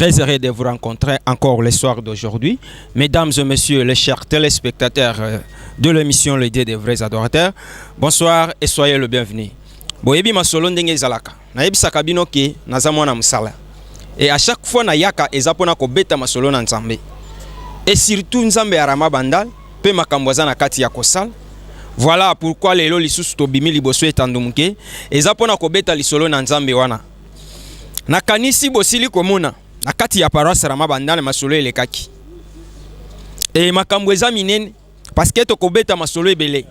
Très heureux de vous rencontrer encore le soir d'aujourd'hui. Mesdames et messieurs, les chers téléspectateurs euh, de l'émission Le Dieu des vrais adorateurs, bonsoir et soyez le bienvenu. Boyebi masolo ndenge ezalaka. Nayebisaka bino ke naza mwana musala. Et à chaque fois na yaka eza pona ko beta masolo na Nzambe. Et surtout Nzambe ya Rama Bandal pe makambo aza na kati ya kosala voilà pourquoi lelo lisusu tobimi liboso etando moke eza mpona kobeta lisolo na nzambe wana nakanisi bosili komona na kati ya paroisse rama bandana masolo elekaki e makambo eza minene parceke tokobeta masolo ebele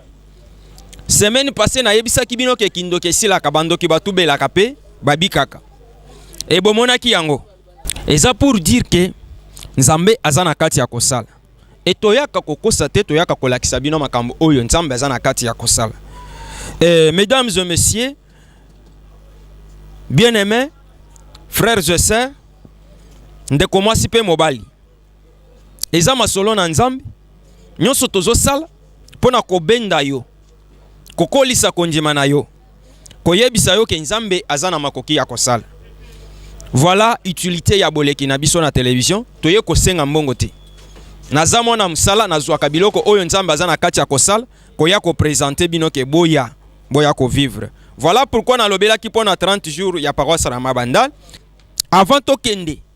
semaine passé nayebisaki bino ke kindoki esilaka bandoki batubelaka mpe babikaka e bomonaki yango eza pour dire ke nzambe aza na kati ya kosala Et toyaka kokosa te, toyaka kolakisa bino makambo oyo Nzambe aza na kati ya kosala. Et mesdames et messieurs, bien aimé frères et sœurs ndeko mwasi mpe mobali eza masolo na nzambe nyonso tozosala mpo na kobenda yo kokolisa kondima na yo koyebisa yo ke Nzambe aza na makoki ya kosala. Voilà utilité ya boleki na biso na television, toye kosenga mbongo te. Naza mwana mosala, nazwaka biloko oyo Nzambe aza na kati ya kosala, koya ko presenter bino ke boya, boya ko vivre. Voilà pourquoi nalobelaki mpo na 30 jours ya paroisse Rama Bandal. Avant tokende,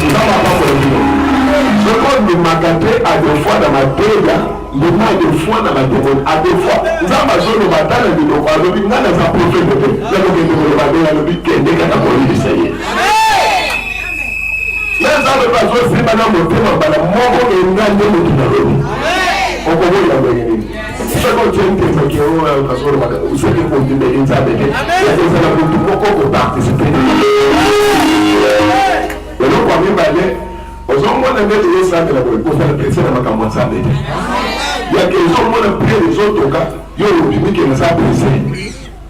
Toza ba papa ya bino. Soki ondimaka te à deux fois na mateya, ndima à deux fois na ba demoni. À deux fois, Nzambe azoloba ata na minoko alobi ngai naza profete te. Nakokende koloba nde alobi kende kaka koyebisa ye. Ye Nzambe mpe azosimba na motema mbala moko enga nde moto nalobi. Okoboya ndenge nini? soki ozwi ntembe ke oyo nazolobaka soki kondimeli nzambe te ezala motu moko koparticipe eloko ya mibale ozomona ndeti esambela boye kosala prese na makambo ya nzambe te yake ezomona pre ezotoka yo olobimi ke naza prese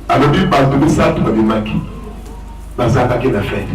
alobi bato misato babimaki bazangaki na fete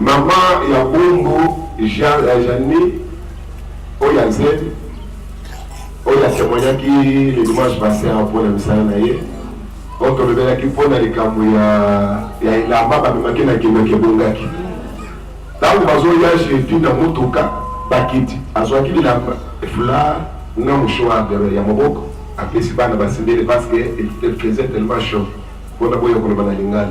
Maman ya Bombo ja ya Jeanne oyo ya Zen oyo atemoignaki le dimanche passé mpo na misala na ye oyo tolobelaki mpo na likambo ya ya elamba bamemaki na kindoki ebongaki ntango bazoya jeudi na motuka bakiti azwaki bilamba efula na mouchoir ya moboko apesi bana basimbeli parce que il faisait tellement chaud mpona boya koloba na lingala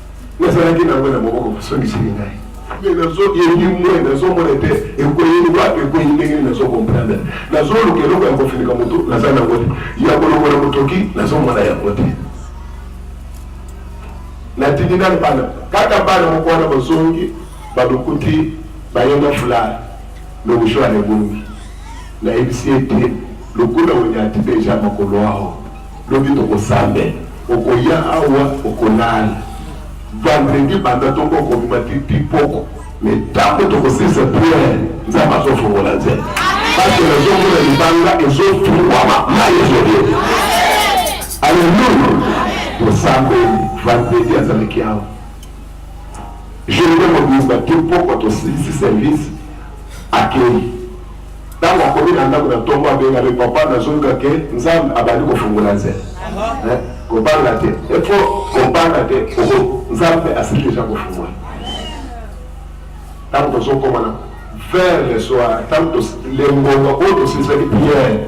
Nazalaki na yango na maboko, basongiseli ngai mais nazoyebi mwe nazomona te ekweyeli wapi ekweyi ndenge nini nazo comprendre nazoluka eloko ya kofinika motu naza nango te ya kolongola motoki nazomona yango te natindi nani bana kaka bana moko wana bazongi balukuti bayenda fulare lokushwana ebongi nayebisi ye te lokuna wenyati deja makolo aho Lobi toko sambela okoya awa oko lala vendredi banda tongo oko bima ti ti poko mais tango toko silisa prière nzambe azo fongola nzela parce que nazo mona libanga ezo fungwama mayi ezo bima alleluia tosambeli vendredi azalaki awa journée mobimba ti poko tosilisi service akeyi Ntango akomi na ndako na ntongo, abenga be, Papa, nazoluka ke Nzambe abandi kofungola nzela. Eh, kobanga te, efo kobanga te, oho, Nzambe asili deja kofungola. Ntango tozokoma na vers le soir, ntango lengonga oyo tosilisaki priere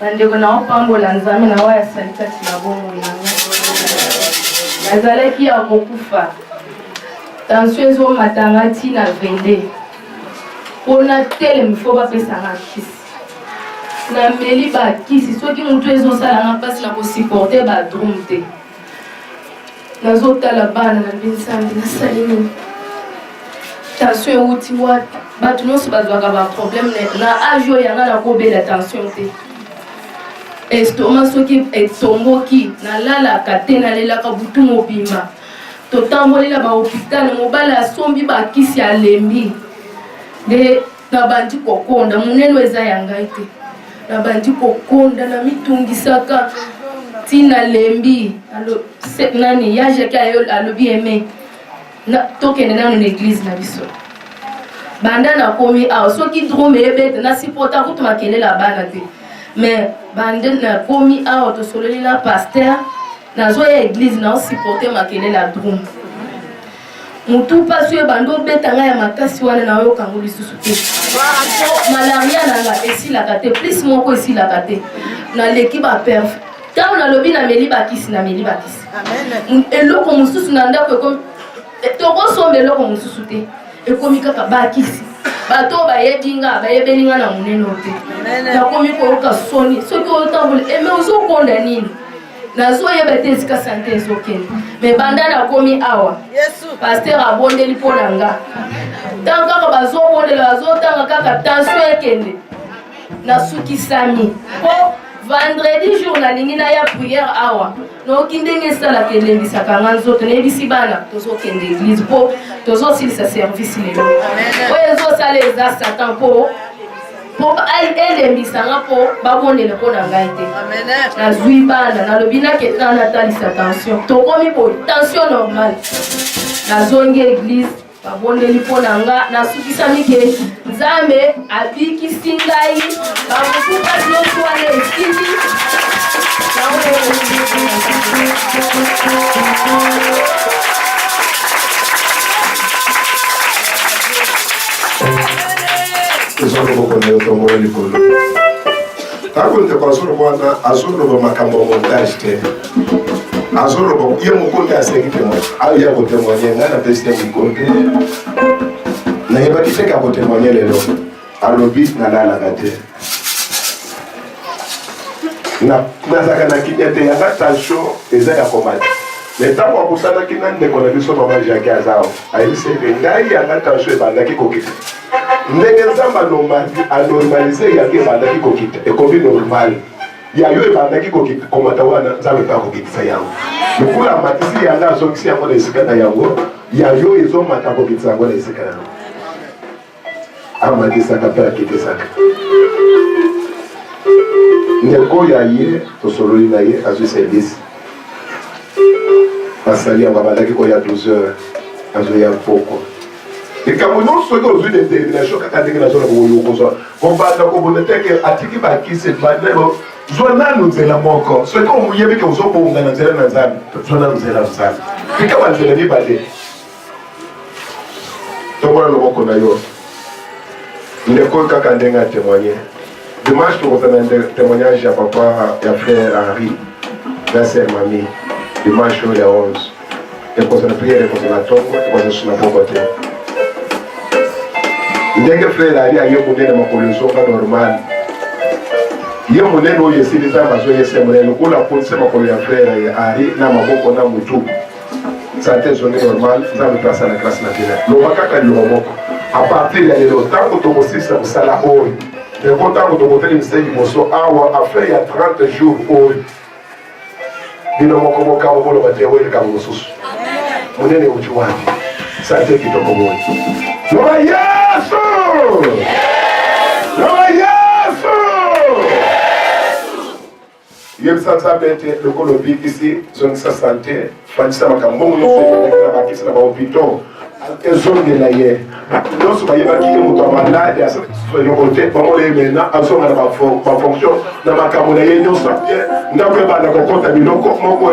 Bandeko, naopambola Nzambe na oyo asali kati na bomoi na ngai. Nazalaki ya kokufa, tansio ezomata nga ntina 22 mpo natelemi fo bapesanga kisi nameli bakisi soki motu ezosala nga mpasi na kosupporte badrume te nazotala bana na mpe nsambi nasali nini tension euti wapi bato nyonso bazwaka baproblème na age oyo yanga nakobela tension te estoma soki etomboki nalalaka te nalelaka butu mobimba totambolela bahopitale mobali asombi bakisi alembi nde nabandi kokonda monene oyo eza ya ngai te nabandi kokonda na mitungisaka ntina lembi nani ya jake alobi eme tokende nano na eglize na biso banda nakomi awa soki drome ebete nasipota kutu makelela bana te mais bande nakomi awa tosololi na paster nazoya eglize naosipote makelela drome mutu mpasi oyo ebanda obeta ngai ya makasi wana nayoka yango lisusu te malaria na nga esilaka te plus moko esilaka te naleki baperf ntango nalobi nameli bakisi nameli bakisi eloko mosusu na ndako ekomi eh, tokosomba eloko mosusu te ekomi kaka bakisi bato oyo bayebi nga bayebeli nga na monene oyo te nakomi koyoka soni soki otambola eme eh, ozokonda nini nazoyeba te esika sante ezokende me banda nakomi awa paster abondeli mpo na nga ntango kaka bazobondela bazotanga kaka tension ekende nasukisami mpo vendredi jour nalingi naya priere awa noki ndenge esalaka elembisaka nga nzoto nayebisi bana tozokende eglise mpo tozosilisa service lelo oyo ezosala eza satan mpo mpo elembisa nga mpo babondela mpo na ngai te nazwi bana nalobi nakende na natalisa tension tokomi boye tension normal nazongi eglise babondeli mpo na nga nasukisami ke nzambe abikisi ngai bamosuka nyonso wana esili Thank you. ezwa loboko na yo tongola likolo ntango ndeko azoloba wana azoloba makambo ya montage te azoloba ye moko nde asengi temoigne aya kotemoigne ngai napesi te mikolo te nayebaki te ka kotemoigne lelo alobi nalalaka te nazalaka na kimia te yanga tension eza ya komata me ntango akutanaki na ndeko na biso mama jaki azao ayebisi ete ngai yanga tension ebandaki kokita ndenge nzambe anormalise yango ebandaki kokita ekomi normal ya yo ebandaki kokita komata wana nzambe mpe akokitisa yango lokola amatisi yanga azongisi yango na esika na yango ya yo ezomata kokitisa yango na esika na yango amatisaka mpe akitisaka ndeko oyo aye tosololi na ye azwi service basali yango abandaki koya 12 heures azoya pokwa likambo nyonso soki ozwi determination kaka ndenge nazona kokoki okozwa kobanda kobona teke atiki bakisi banelo zwa nanu nzela moko soki oyebi ke ozobonga na nzela na nzambe zwa nanu nzela na nzambe likaba nzela mibale tokola loboko na yo ndeko oyo kaka ndenge atemoigne dimanche tokozala na témoignage ya papa ya frère henri na sœur mami dimanche oyo ya 11 ekozala priere ekozala tongo ekozala suna poko te ndenge frère ali aye monene makolo ezonga normal ye monene oyo esili nzambe azoyese monene lokola aponise makolo ya frère ya henri na maboko na motu sante ezongi normal nzambe mpe asala grâce na bino loba kaka liloba moko a partir ya lelo ntango tokosisa kosala oyo yango ntango tokotelemisa liboso awa afin ya 30 jours oyo bino moko mokabo boloba te oyo likambo mosusu monene euti wapi sante kitoko boye loba yesu loba yesu Yebisa Nzambe ete lokola obikisi, zongisa sante, fandisa makambo bongo nyonso ezalaki na bakisi na bahopito ezongela ye nyonso bayebaki ye moto ya malade eloko te bango ye mena azonga na bafonction na makambo na ye nyonso ndako ebanda kokota biloko moko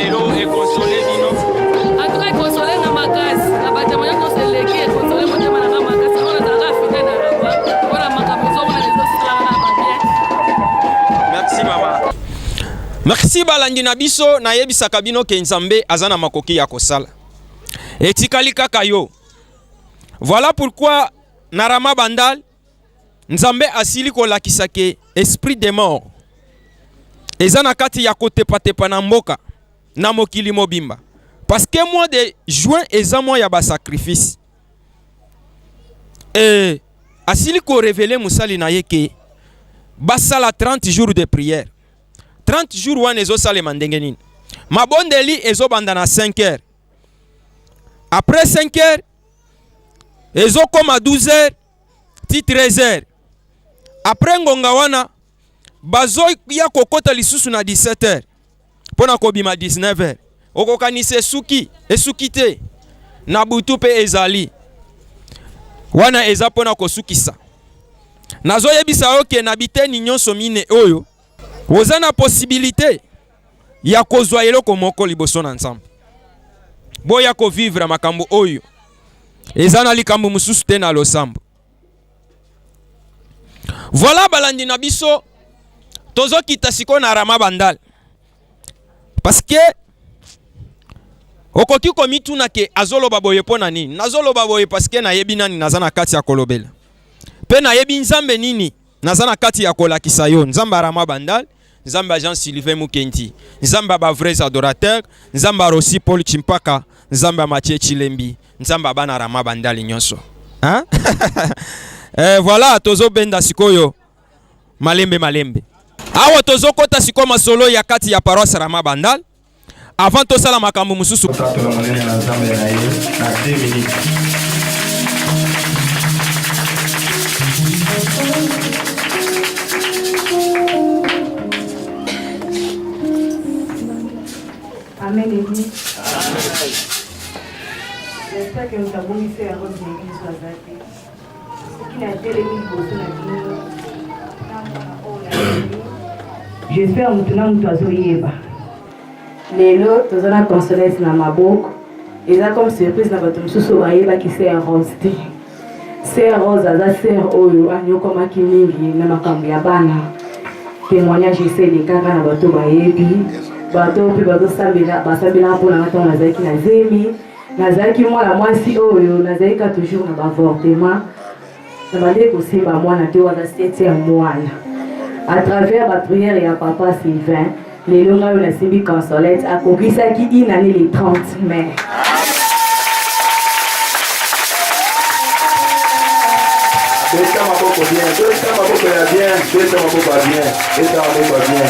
Merci balandi na biso nayebisaka bino ke Nzambe aza na makoki ya kosala. Etikali kaka yo. Voilà pourquoi na Rama Bandal Nzambe asili kolakisa ke esprit de mort eza na kati ya kotepatepa na mboka na mokili mobimba, parce que mois de juin eza mois ya ba sacrifice et asili ko revele mosali na ye ke basala 30 jours de prière. 30 jours wana ezosalema ndenge nini? Mabondeli ezobanda na 5 heures, après 5 heures ezokoma 12 heures ti 13 heures après ngonga wana bazoya kokota lisusu na 17 heures mpo na kobima 19 heures okokanisa esuki esuki te na butu mpe ezali wana eza mpo na kosukisa nazoyebisa yo ke na biteni nyonso mine oyo oza na posibilite ya kozwa eloko moko liboso na Nzambe. Boya kovivre makambo oyo eza na likambo mosusu te na losambo. Voilà balandi na biso tozokita sikoyo na Rama Bandal parce que okoki komituna ke azoloba boye mpo na nini nazoloba boye parce que nayebi nani naza na kati ya kolobela mpe nayebi nzambe nini naza na kati ya kolakisa yo nzambe arama bandal nzambe jean sylvain mukendi nzambe ba vrais adorateur nzambe rosi paul chimpaka nzambe matie chilembi nzambe bana rama bandali nyonso hein? eh, voilà tozobenda sikoyo malembe malembe awa tozokota sikoyo masolo ya kati ya paroisse rama bandal avant tosala makambo mosusu Amen. Amen. Amen. Amen. J'espère mutu na mutu azoyeba. Lelo toza na consolence na maboko. Eza comme surprise na bato mosusu bayebaki Sœur Rose te. Sœur Rose aza sœur oyo anyokomaki mingi na makambo ya bana. Témoignage eseli kaka na bato bayebi. Bato mpe bazosambela basambelaka mpo na ngai ntango nazalaki na zemi. nazalaki mwana mwasi oyo nazalaki ka toujours na bavortement nabandaki kosimba mwana te wana sete ya mwana à travers baprière ya papa sylvain lelo ngai oyo nasimbi consolette akokisaki inane le 30 mai beta maboko bien beta maboko ya bien beta maboko ya bien beta maboko ya bien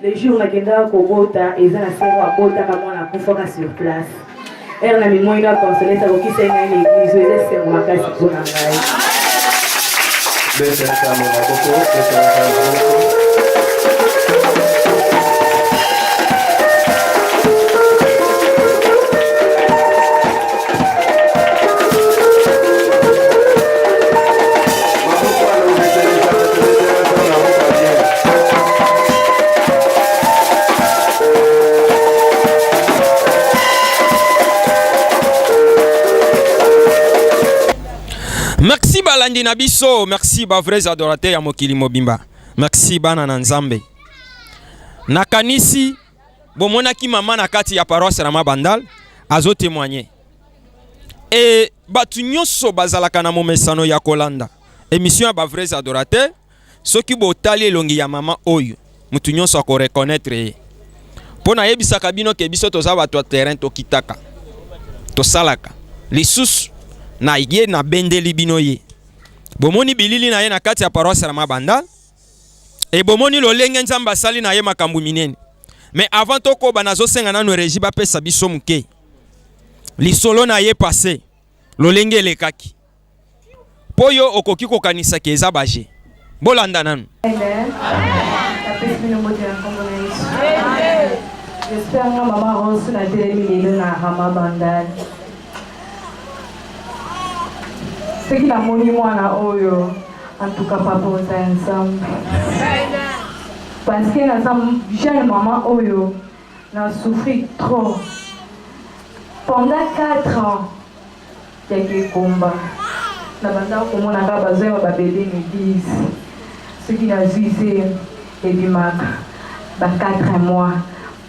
le jour nakendaka kobota eza na sero abotaka mwana akufaka sur place ere na mimoi na consolete akokisa ngai na eglise eza esengo makasi mpo na ngai balandi na biso merci ba vrais adorateur ya mokili mobimba merci bana na nzambe nakanisi bomonaki mama na kati ya paroisse na mabandal azo témoigner e bato nyonso bazalaka na momesano ya kolanda émission ya ba vrais adorateur soki botali elongi ya mama oyo moto nyonso akoreconnaitre ye mpo nayebisaka bino ke biso toza bato ya terrain tokitaka tosalaka lisusu na ye nabendeli bino ye bomoni bilili na ye na kati ya paroisse ya mabanda Et bomoni lolenge Nzambe asali na ye makambo minene. Mais avant tokoba nazosenga nanu regie bapesa biso moke lisolo na ye passé lolenge elekaki mpo yo okoki kokanisa ke eza baje. Bolanda nanu. J'espère nga maman Rose na telemi lelo na Rama Bandal. soki namoni mwana oyo antuka papa oza ya nzambe parceke naza jeune mama oyo na souffrir trop pendant 4 ans ya kekomba na bandaka komonaka bazwa ya babebe na eglise soki nazwi se ebimaka ba 4 mois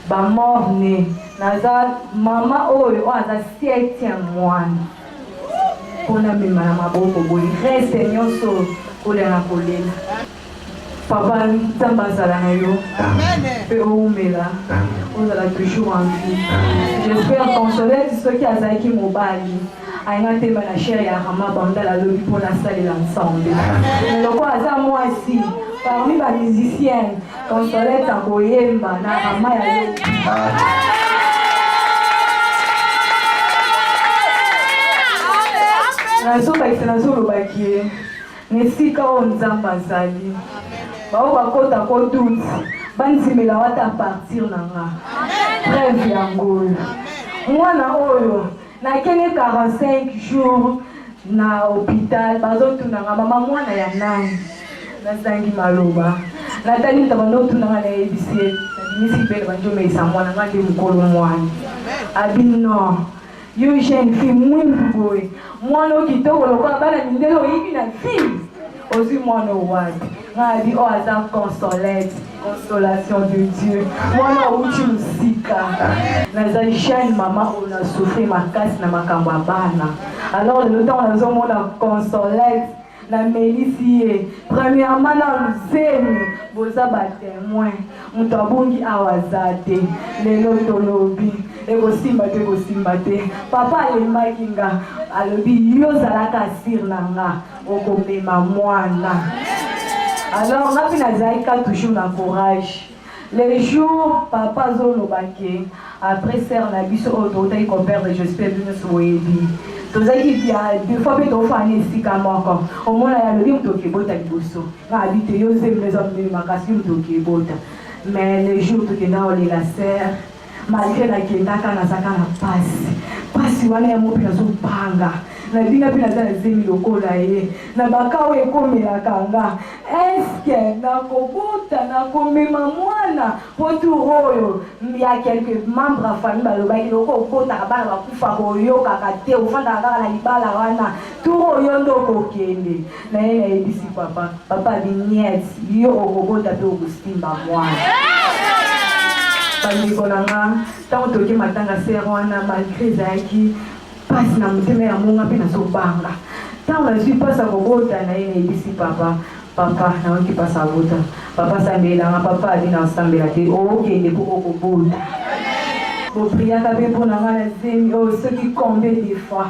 Ba mort ne naza maman oyo oyo aza septième mwana pona mema na maboko boye reste nyoso kolia na kolela papa nzambe azala na yo mpe owumela ozala toujours en vie j'espère consolete soki azalaki mobali Aina temba na chair ya Rama Bandala lobi mpo nasalela Nzambe. Loko aza mwasi parmi ba musiciens Consolette akoyemba na Rama ya lobi. nazobakisa nazolobaki ye na esika oyo nzambe azali baoyo bakota kodute bandimela wata partir na nga preve yango oyo mwana oyo Na kende 45 jours na hopital bazo tunanga mama mwana ya nani? Na zangi maloba. Na tali mutu abando tunanga na yebisi ye na bimisi bele banjo meisa mwana nga nde mukolo mwana. Abi non. Yo jeune fille mwindu boye mwana yo kitoko lokola bana mindele oyebi na vie? ozwi mwana oyo wapi ngai nabi oyo aza consolete consolation de dieu mwana outi mosika naza jeune mama oyo na souffrir makasi na makambo ya bana alors lelo ntango nazomona consolete namelisi ye premièrement na luzemi boza batemoin moto abungi awa aza te lelo tolobi ekosimba te ekosimba te papa alembaki nga alobi yo ozalaka asire na nga okomema mwana alors nga mpe nazalaki ka toujours na courage le jour papa azoloba ke après sere na biso oyo toutaki koperdre jospe binusu boyebi tozalaki deux fois mpe tofana na esika moko omona ya lobi moto okebota liboso nga abi te yo zemino eza monene makasi moto okebota mais le jour tokenda olela sere malgre nakendaka nazaka na pasi pasi wana ya mope nazobanga na bino mpe naza na zemi lokola ye na bakao ekomelaka nga eske nakobota nakomema mwana mpo tour oyo ya quelque membre ya famille balobaki loko obotaka bana bakufa koyokaka te ofandaka kaka na libala wana tour oyo nde okokende naye nayebisi papa papa biniet yo okobota mpe okosimba mwana bandeko na nga ntango toke matanga sere wana malgre ezalaki mpasi na motema ya monga mpe nazobanga ntango nazwi mpasi ya kobota na ye nayebisi papa papa nayoki mpasi abota papa asambelelanga papa abi na osambela te okende mpo okobota bopriaka mpe mpo na ngai na zemi oyo oh, soki combien de fois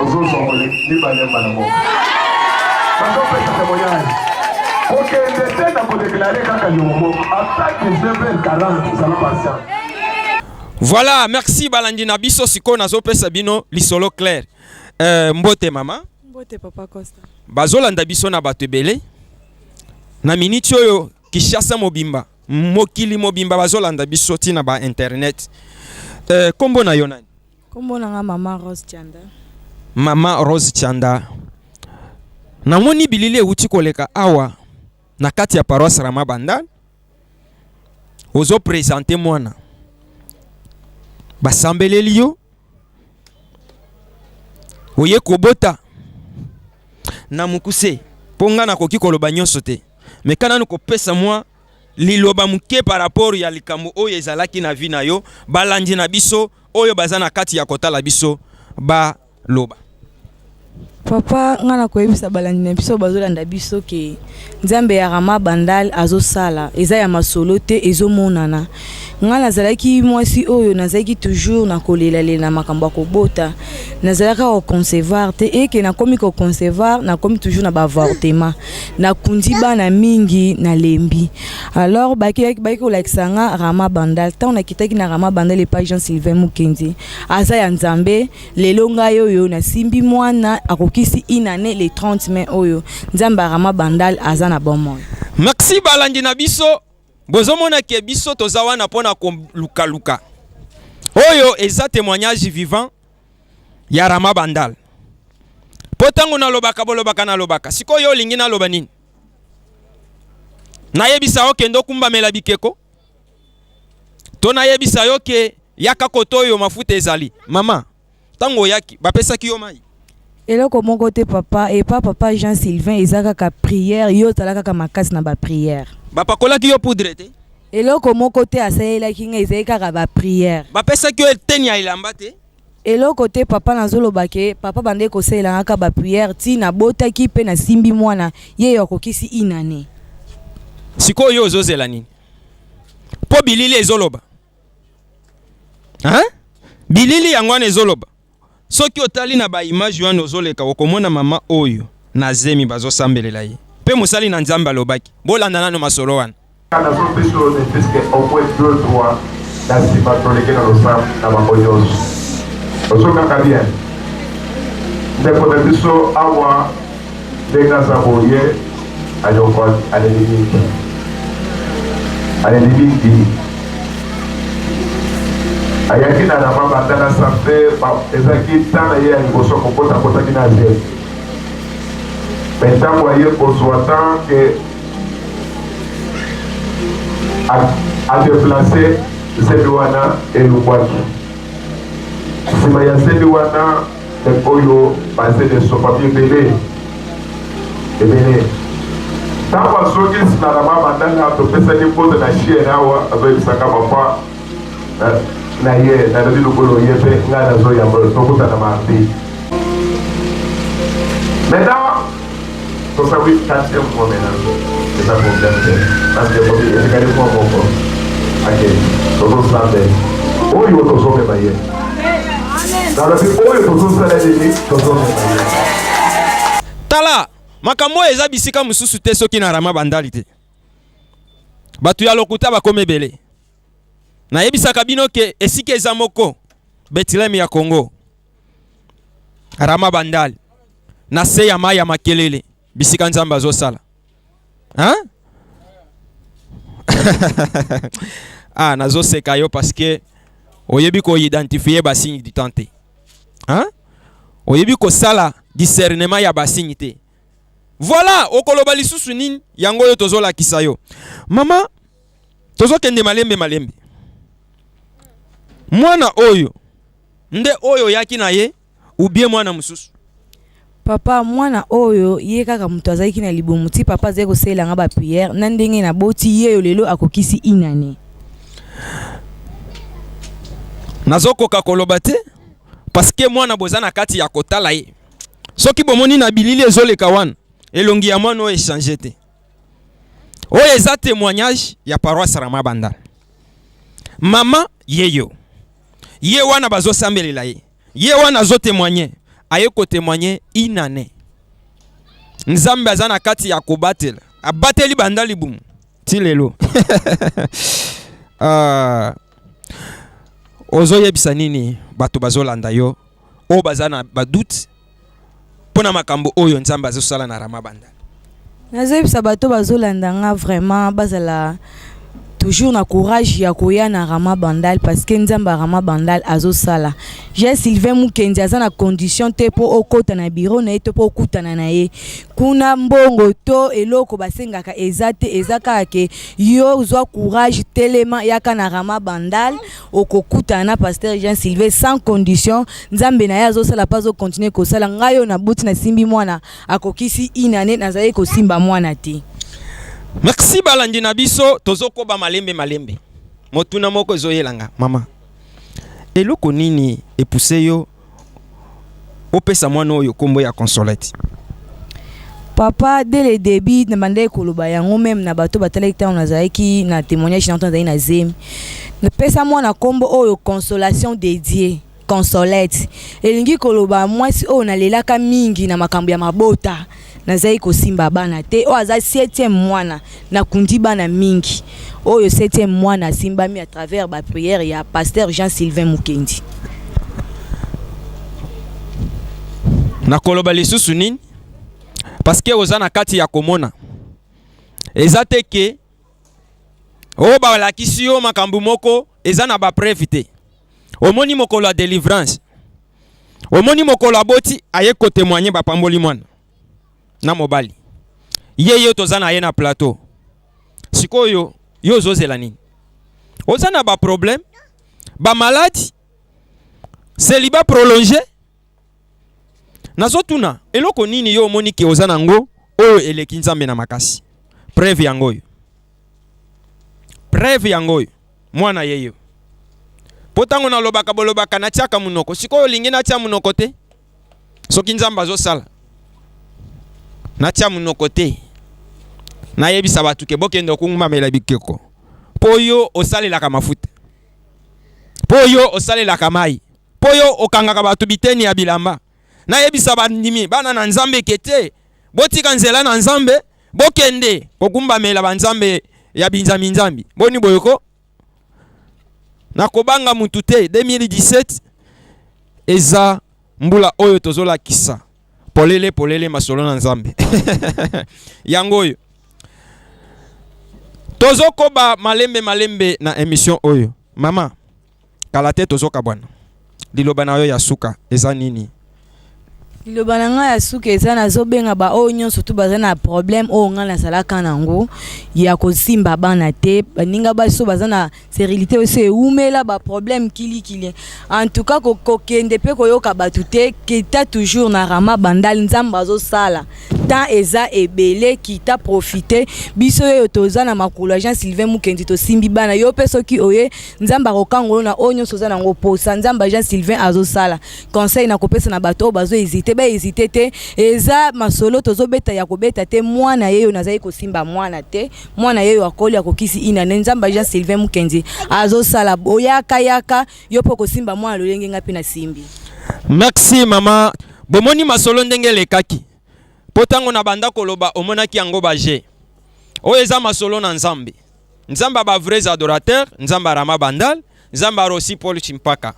ozozwa moleki mibale mbala moko bazopesa temoignage kokende te na kodeklare kaka yongo moko ata 19h40 zala patient Voilà, merci balandi na biso sikoyo nazopesa bino lisolo claire. Euh, mbote mama. Mbote papa Costa. Bazolanda biso na bato ebele. Na miniti oyo Kinshasa mobimba, mokili mobimba bazolanda biso tina ba internet. Euh, kombo na yo nani? Kombo na nga maman Rose Chanda. Maman Rose Chanda. Namoni bilili ewuti koleka awa na kati ya paroisse Rama Bandal. Ozo présenter mwana. Basambeleli yo. Oye kobota na mukuse mpo ngai nakoki koloba nyonso te meka nanu kopesa mwa liloba moke par rapport ya likambo oyo ezalaki na vie na yo balandi na biso oyo baza na kati ya kotala biso baloba papa ngai nakoyebisa balandi na biso bazolanda biso ke nzambe ya rama bandal azosala eza ya masolo te ezomonana Ngai nazalaki mwasi oyo nazalaki toujours na kolelalela na makambo ya kobota, nazalaka koconcevoir te eke nakomi koconcevoir nakomi toujours na baavortement, nakundi bana mingi nalembi. Alors bakeyaki bayaki kolakisa nga Rama Bandal, ntango nakitaki na Rama Bandal epai Jean Sylvain Mukendi, aza ya Nzambe, lelo ngai oyo nasimbi mwana akokisi une annee le 30 mai oyo, Nzambe ya Rama Bandal aza na bomoi. Merci balandi na biso. bozomona ke biso toza wana mpona kolukaluka oyo eza témoignage vivant ya rama bandal mpo ntango nalobaka bolobaka nalobaka sikoyo olingi naloba nini nayebisa yo kende okumbamela bikeko to nayebisa yo ke yaka koto oyo mafuta ezali mama ntango oyaki bapesaki yo mai eloko moko te papa epa papa jean sylvain eza kaka prière yo ozala kaka makasi na baprière bapakolaki yo poudre te eloko moko te asalelaki ngai ezali kaka baprière bapesaki yo eteni ya elamba te eloko te papa nazoloba ke papa bandeki kosalela ngaka baprière ti nabotaki mpe nasimbi mwana ye yo akokisi inane sikoyo yo ozozela nini mpo bilili ezoloba hein? bilili yango wana ezoloba soki otali na ba image wana ozoleka okomona mama oyo na zemi bazosambelela ye mpe mosali na nzambe alobaki bolanda nano masolo wana na nsima toleke na losambo na bango nyonso ozokaka bien ndeko na biso awa ndenge aza boye ayoko aleli mingi aleli mingi ayaki na rama banda na sambe ezalaki ntan na ye ya liboso kokota akotaki na ze me ntango aye kozwa ntan ke adeplace zebi wana elubwaki nsima ya zebi wana Pep oyo bazeli esopami ebele ebele ntango azongi nsima na babandanga topesaki mbote na chiere awa azoyebisaka papa na ye nalobi lokola oye mpe ngai nazoyamba tokutana mardi maintenant Kosa wi quatrième fois maintenant eza problème te parce que bobi etikali mwa moko ake tozosala nde oyo tozomema ye nalobi oyo tozosala nini tozomema ye tala makambo oyo eza bisika mosusu te soki na rama bandali te bato ya lokuta bakoma ebele nayebisaka bino ke esika eza moko betileme ya kongo Rama Bandal na se ya mai ya makelele bisika Nzambe azosala hein? ah nazoseka yo parce que oyebi koidentifie basigne du temps te hein? oyebi kosala discernement ya basigne te voilà okoloba lisusu nini yango oyo tozolakisa yo mama tozokende malembe malembe mwana oyo Nde oyo oyaki na ye ou bien mwana mosusu? Papa mwana oyo ye kaka moto azalaki na libumu ti papa azali kosalela nga ba prière na ndenge na boti yeyo lelo akokisi une annee. Nazokoka koloba te parce que mwana boza na kati ya kotala ye soki bomoni na bilili ezoleka wana elongi ya mwana oyo echange te oyo eza témoignage ya paroisse Rama Banda. Mama yeyo ye wana bazosambelela ye ye wana azo témoigner aye ko témoigner une année. Nzambe aza na kati ya kobatela abateli banda libumu ti lelo uh, ah. ozoyebisa nini bato bazolanda yo oyo baza na badoute mpo na makambo oyo nzambe azosala na rama banda nazoyebisa bato bazolanda nga vraiment bazala toujours na courage ya koya na rama bandal parce que nzambe ya rama bandal azosala je sylvain mukendi aza na condition te mpo okota na biro na ye to mpo okutana na ye kuna mbongo to eloko basengaka eza te eza kaka ke yo ozwa courage telema yaka na rama bandal okokutana na pasteur Jean Sylvain sans condition nzambe na ye azosala mpe azokontinue kosala ngai oyo nabuti nasimbi mwana akokisi une année nazalaki kosimba mwana te merci balandi na biso tozokoba malembe malembe motuna moko ezoyelanga mama eloko nini epuse yo opesa mwana oyo kombo ya consolette papa dès le début na bandaki koloba yango meme na bato batalaki ntango nazalaki na témoignage na ntango nazalaki na zemi napesa mwana nkombo oyo consolation dédié consolette elingi koloba mwasi oyo nalelaka mingi na makambo ya mabota nazali kosimba bana te oyo aza septième mwana nakundi bana mingi oyo septième mwana asimbami à travers ba prière ya pasteur jean sylvain mukendi nakoloba lisusu nini parceke oza na kati ya komona eza te ke oyo balakisi yo makambo moko eza na bapreve te omoni mokolo ya delivrance omoni mokolo aboti aye kotemoigne bapamboli mwana na mobali ye yo toza na ye na plateau sikoyo yo ozozela nini oza na baproblème bamaladi seliba prolonge nazotuna eloko nini yo omoni ke oza na yango oyo eleki nzambe na makasi preve yango oyo preve yango oyo mwana ye yo mpo ntango nalobaka bolobaka natiaka monoko sikoyo olingi natia monoko te soki nzambe azosala natia monoko te nayebisa bato ke bokende okungumbamela bikeko mpo yo osalelaka mafuta mpo yo osalelaka mai mpo yo okangaka bato biteni ya bilamba nayebisa bandimi bana na Nzambe eke te botika nzela na Nzambe bokende kokumbamela banzambe ya binzambi nzambi boni boyoko nakobanga mutu te 2017 eza mbula oyo tozolakisa polele polele masolo na Nzambe yango oyo tozokoba malembe malembe na emission oyo mama kala te tozokabwana liloba na yo ya suka eza nini liloba na ngai ya suka eza nazobenga baoyo nyonso tu baza na problème oyo ngai nazalaka na yango ya kosimba bana te baninga basi oyo baza na sérilité oyo so ewumela baproblème kilikili en tout cas kokende mpe koyoka bato te kita toujours na rama bandal nzambe azosala temps eza ebele kita profite biso oyo toza na makolo ya jean sylvain mukendi tosimbi bana yo mpe soki oye nzambe akokanga yo na oyo nyonso oza nango posa nzambe jean sylvain azosala conseil na kopesa na bato oyo bazohésite bahésite te eza masolo tozobeta ya kobeta te mwana ye oyo nazali kosimba mwana te mwana ye oyo akoli akokisi inane nzambe jean sylvain mokenzi azosala boyaka yaka yo mpo kosimba mwana lolenge ngai mpe nasimbi merci mama bomoni masolo ndenge elekaki mpo ntango na banda koloba omonaki yango baje oyo eza masolo na nzambe nzambe ya ba vrais adorateur nzambe ya rama bandal nzambe ya rosi paul chimpaka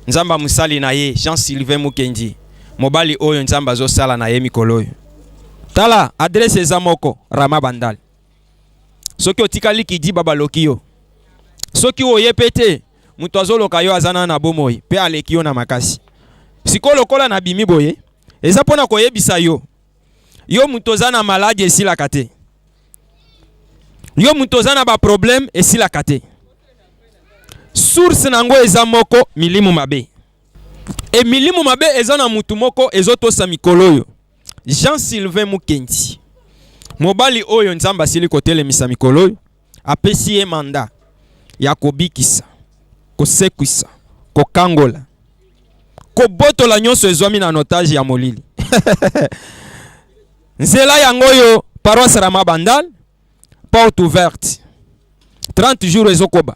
nzambe ya mosali na ye jean sylvain mukendi mobali oyo nzambe azosala na ye mikolo oyo tala adrese eza moko rama bandal soki otikali kidiba baloki yo soki oye mpe te moto azoloka yo aza na na bomoi mpe aleki yo na makasi sikoyo lokola nabimi boye eza mpo na koyebisa yo yo moto oza na maladi esilaka te yo moto oza na baproblème esilaka te source na yango eza moko milimo mabe e milimo mabe eza na motu moko ezotosa mikolo oyo jean sylvain mukendi mobali oyo nzambe asili kotelemisa mikolo oyo apesi ye manda ya kobikisa, kosekwisa, kokangola, kobotola nyonso ezwami na notage ya molili. Nzela yango oyo paroisse Rama Bandal, porte ouverte 30 jours ezokoba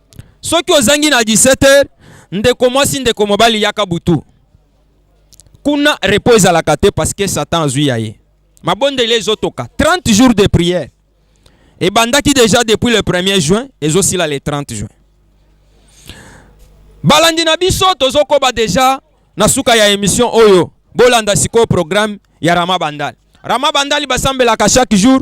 soki ozangi na 17 heures ndeko mwasi ndeko mobali yaka butu kuna repos ezalaka te parce que satan azwi ya ye mabondeli ezotoka 30 jours de prière ebandaki déjà depuis le 1er juin ezosila le 30 juin balandi na biso tozokoba déjà na suka ya émission oyo bolanda sikoyo programme ya rama bandal rama bandali basambelaka chaque jour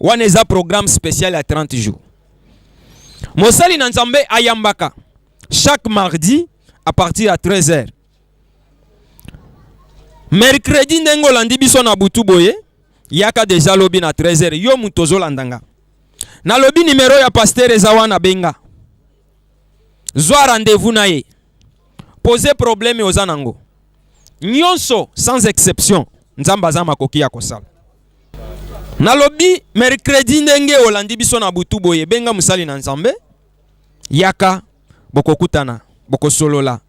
wana eza programme spécial ya 30 jours mosali na nzambe ayambaka chaque mardi à partir ya 13 heures mercredi ndenge olandi biso na butu boye yaka deja lobi na 13 heures yo moto ozolanda nga nalobi nimero ya pastere eza wana benga zwa rendez-vous na ye pose probleme oza nango nyonso sans exception nzambe aza makoki ya kosala Nalobi mercredi ndenge olandi biso na butu boye benga mosali na Nzambe yaka bokokutana bokosolola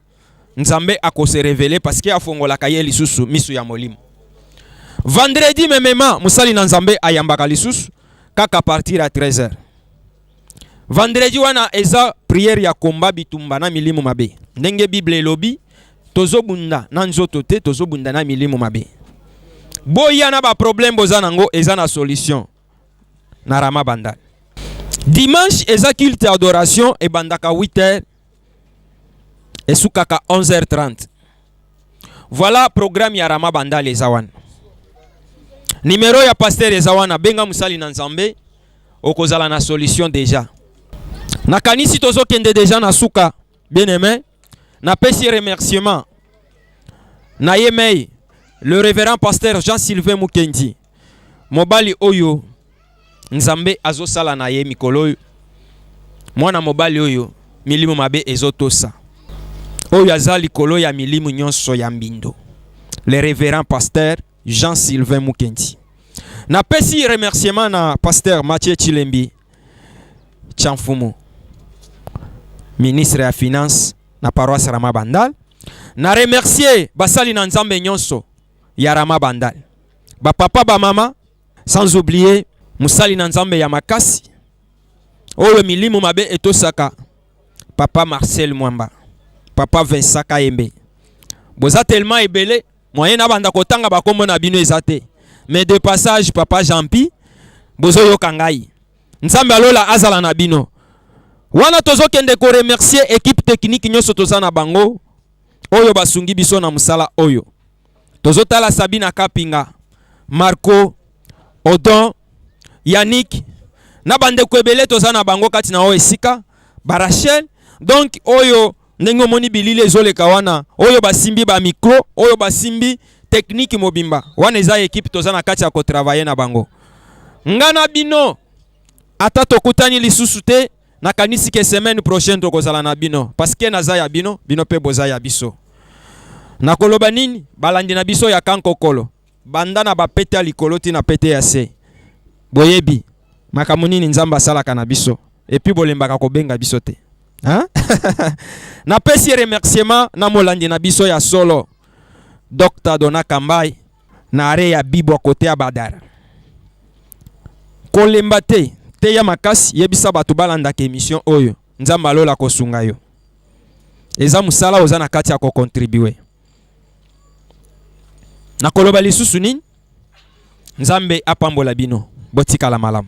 Nzambe akose revele parce que afongolaka ye lisusu misu ya molimo. Vendredi memema mosali na Nzambe ayambaka lisusu kaka partir à 13h. Vendredi wana eza prière ya combat bitumba na milimu mabe. Ndenge Bible elobi, tozobunda na nzoto te, tozobunda na milimu mabe. Boya na ba problème boza nango eza na solution na Rama Bandal. Dimanche eza culte adoration ebandaka 8h esukaka 11h30 voilà programme ya rama bandale eza wana nimero ya pasteur eza wana benga mosali na nzambe okozala na solution deja nakanisi tozokende deja na suka bien aime napesi remerciement na yemei le révérend pasteur jean sylvain mukendi mobali oyo Nzambe azosala na ye mikolo oyo, mwana mobali oyo milimo mabe ezotosa, oyo aza likolo ya milimo nyonso ya mbindo, le reverend pasteur Jean Sylvain Mukendi. Napesi remerciement na pasteur Mathieu Chilembi Chanfumu, ministre ya finance na paroisse Rama Bandal. Na remercier basali na Nzambe nyonso ya Rama Bandal. ba papa ba mama sans oublier musali na nzambe ya makasi oyo milimu mabe etosaka papa marcel mwamba papa vincent kayembe boza tellement ebele moyen nabanda kotanga bakombo na bino eza te mais de passage papa jampi bozoyoka ngai nzambe alola azala na bino wana tozokende koremercier ekipe teknike nyonso toza na bango oyo basungi biso na mosala oyo tozotala Sabina Kapinga, Marco, Odon, Yannick na bandeko ebele toza na bango kati na oyo esika ba Rachel donc oyo ndenge omoni bilili ezoleka wana oyo basimbi ba micro oyo basimbi tekniki mobimba wana eza ekipe toza na kati ya kotravaye na bango nga na bino ata tokutani lisusu te nakanisi ke semaine prochaine tokozala na bino parce que naza ya bino bino mpe boza ya biso nakoloba nini balandi na biso ya kankokolo banda na bapete ya likolo ti na pete ya se boyebi makambo nini nzambe asalaka na biso epuis bolembaka kobenga biso te napesi remerciement na molandi na biso ya solo dr dona kambai na are ya bibwa kote ya badara kolemba te teya makasi yebisa bato balandaka emission oyo nzambe alola kosunga yo eza mosala oza na kati ya kokontribue nakoloba lisusu nini nzambe apambola bino botikala malamu